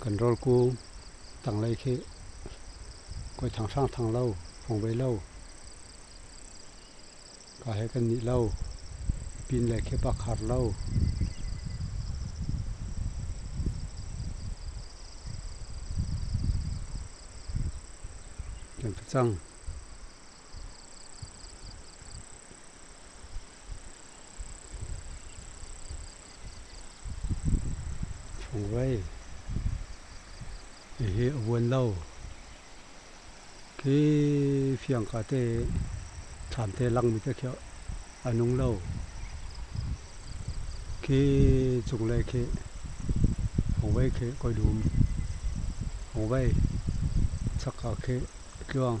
kan rawlku tanglei khi koi thang hrang thang lo phong ve lo ka he kan nih lo pin le khi pa khar lo kan cang Fungvei hihi a vuan lo. Khi fiang ka te tham te langmi te khi a nung lo. Khi cunglei khi fungvei khi koi dum. Fungvei chakka khi tluang.